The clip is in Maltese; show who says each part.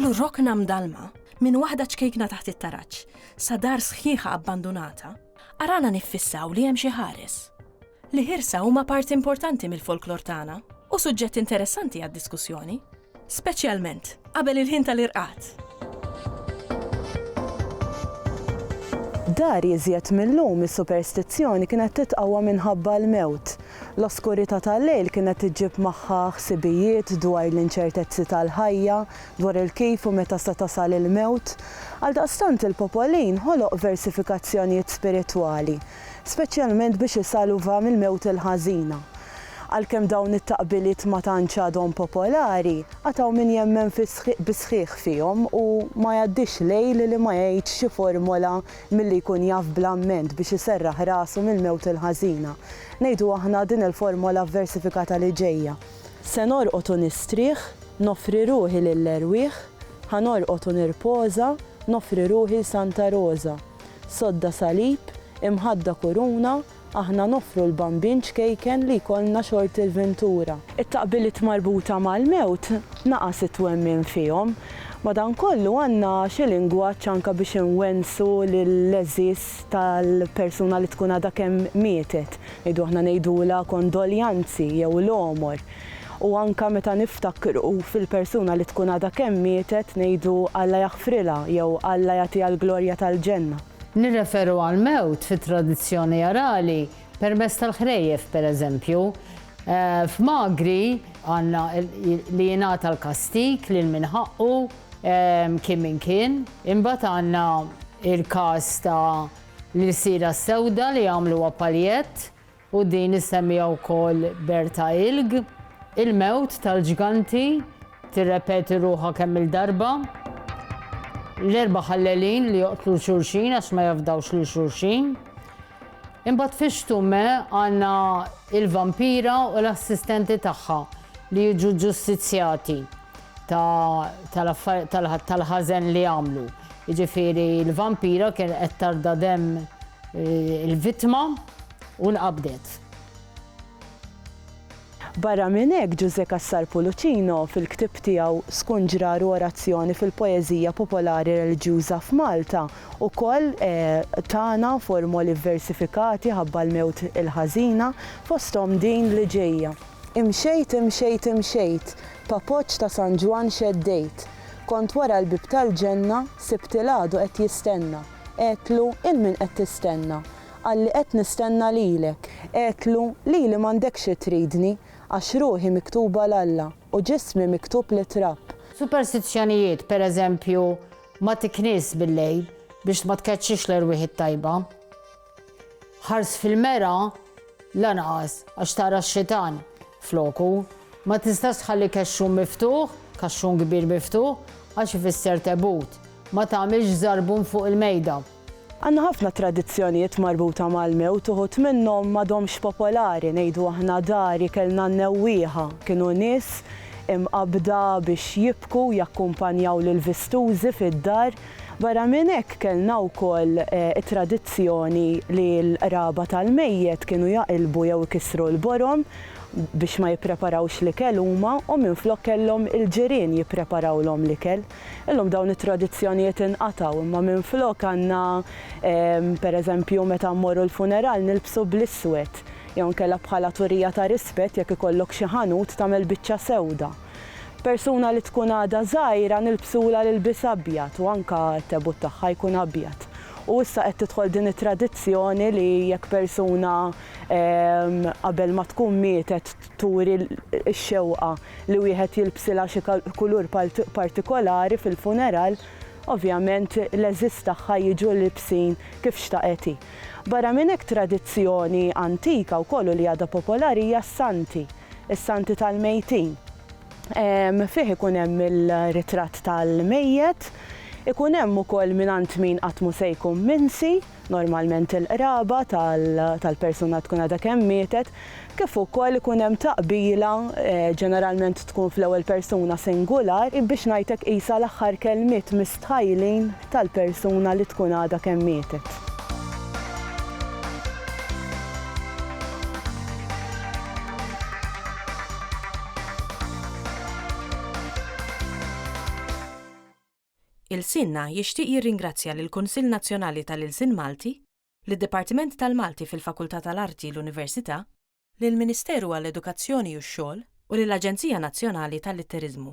Speaker 1: F'kull rokna mdalma, minn waħda ċkejkna taħt it-taraġ, sa dar sħiħa abbandunata, arana niffissaw li hemm xi ħares. Li ħirsa huma parti importanti mill-folklor tagħna u suġġett interessanti għad-diskussjoni. Speċjalment, qabel il-ħin tal-irqad.
Speaker 2: Dar iżjed mil-lum is-superstizzjoni kienet titqawwa minħabba l-mewt. L-oskurità tal-lejl kienet iġġib magħha ħsibijiet dwar l-inċertezzi tal-ħajja, dwar il-kif u meta se tasal il-mewt. Għaldaqstant il-popolin ħoloq versifikazzjonijiet spiritwali, speċjalment biex isalva mill-mewt il-ħażina, Għalkemm dawn it-taqbiliet ma tantx għadhom popolari, għad hawn min jemmen bis-sħiħ fihom u ma jgħaddix lejl li ma jgħidx xi formola milli jkun jaf bl-amment biex iserraħ rasu mill-mewt il-ħażina. Ngħidu aħna din il-formola vversifikata li ġejja. Se norqod u nistrieħ, noffri ruħi lill-erwieħ, ħa norqod u nirpoża, noffri ruħi l-Santa Roża. Sodda salib, imħadda kuruna, Aħna noffru l-bambin ċkejken li jkollna xort il-ventura. It-taqbiliet marbuta mal-mewt naqas it-twemmin fihom. Madankollu għandna xi lingwaġġ anke biex inwennsu lill-għeżież tal-persuna li tkun għadha kemm mietet. Ngħidu aħna ngħidulha kondoljanzi jew l-għomor. U anke meta niftakru fil-persuna li tkun għadha kemm mietet ngħidu Alla jaħfrilha jew Alla jagħtiha l-glorja tal-ġenna. Nirreferu
Speaker 3: għall-mewt fit-tradizzjoni arali permezz tal-ħrejjef, pereżempju. F'Magri għandna li jingħata l-kastig lil min ħaqqu, kien min kien. Imbagħad għandna l-każ ta' l-Ilsira s-Sewda li għamluha paljett. u din issemmiha wkoll Berta Ilg, il-mewt tal-ġganti tirrepeti ruħha kemm-il darba. L-erba' ħallelin li joqtlu 'l xulxin għax ma jafdawx lil xulxin. Imbagħad fix-xtume għandna il-vampira u l-assistenti tagħha li jiġu ġustizzjati. tal-ħażen li għamlu. Jiġifieri l-vampira kien qed tarda demm eh, il-vittma u nqabdet.
Speaker 2: Barra minn hekk Ġużè Cassar Pulucino fil-ktieb tiegħu Skun Ġrar u Orazzjoni fil-Poeżija Popolari Reliġjuża f'Malta ukoll eh, tana formoli vversifikati ħabba l-mewt il-ħażina fosthom din li ġejja. Imxejt, imxejt, imxejt, b'appoġġ ta' San Ġwann xeddejt. Kont wara l-bieb tal-ġenna, sibt il-għadu qed jistenna. Għedtlu, 'Il min qed tistenna? Qalli, 'Qed nistenna lilek. Għedtlu, 'Lili m'għandekx xi tridni, għax ruħi miktuba 'l Alla, u ġismi miktub lit-trab. Superstizzjonijiet,
Speaker 3: per eżempju, ma tiknies bil-lejl biex ma tkeċċix l-erwieħ it-tajba. Ħars fil-mera lanqas għax tara x-xitan floku. Ma tistax tħalli kexxun miftuħ, kaxxun kbir miftuħ, għax ifisser tebut. Ma tagħmilx żarbun fuq il-mejda. Għandna ħafna
Speaker 2: tradizzjonijiet marbuta mal-mewt, uħud minnhom m'għadhomx popolari, ngħidu aħna dari kellna n-newwieħa, kienu nies imqabbda biex jibku u jakkumpanjaw lill-vistużi fid-dar, Barra minn hekk kellna wkoll it-tradizzjoni li l-qraba tal-mejjet kienu jaqilbu jew ikissru l-borom biex ma jippreparawx l-ikel huma u minflok kellhom il-ġirien jippreparawlhom l-ikel. Illum dawn it-tradizzjonijiet inqatgħu imma minflok għandna pereżempju meta mmorru l-funeral nilbsu bl-iswed jew inkella bħala turija ta' rispett jekk ikollok xi ħanut tagħmel biċċa sewda. Persuna li tkun għadha żgħira nilbsulha l-ilbies abjad u anke t-tebut tagħha jkun abjad. U issa qed tidħol din it-tradizzjoni li jekk persuna qabel ma tkun mietet turi x-xewqa li wieħed jilbsilha xi kulur partikolari fil-funeral, ovvjament l-għeżież tagħha jiġu libsin kif xtaqet hi. Barra minn hekk tradizzjoni antika wkoll u li għadha popolari hija s-santi. is-Santi tal-Mejtin. Fih ikun hemm il-ritratt tal-mejjet, ikun hemm ukoll mingħand min qatt mhu se jkun minsi, normalment il-qraba tal-persuna tkun għadha kemm mietet, kif ukoll ikun hemm taqbila, ġeneralment tkun fl-ewwel persuna singular, biex ngħidlek qisha l-aħħar kelmiet mistħajlin tal-persuna li tkun għadha kemm mietet.
Speaker 1: Ilsienna jixtieq jirringrazzja lill-Kunsill Nazzjonali tal-Ilsien Malti, lid-Dipartiment tal-Malti fil-Fakultà tal-Arti l-Università, lill-Ministeru għall-Edukazzjoni u x-Xogħol u lill-Aġenzija Nazzjonali tal-Litteriżmu.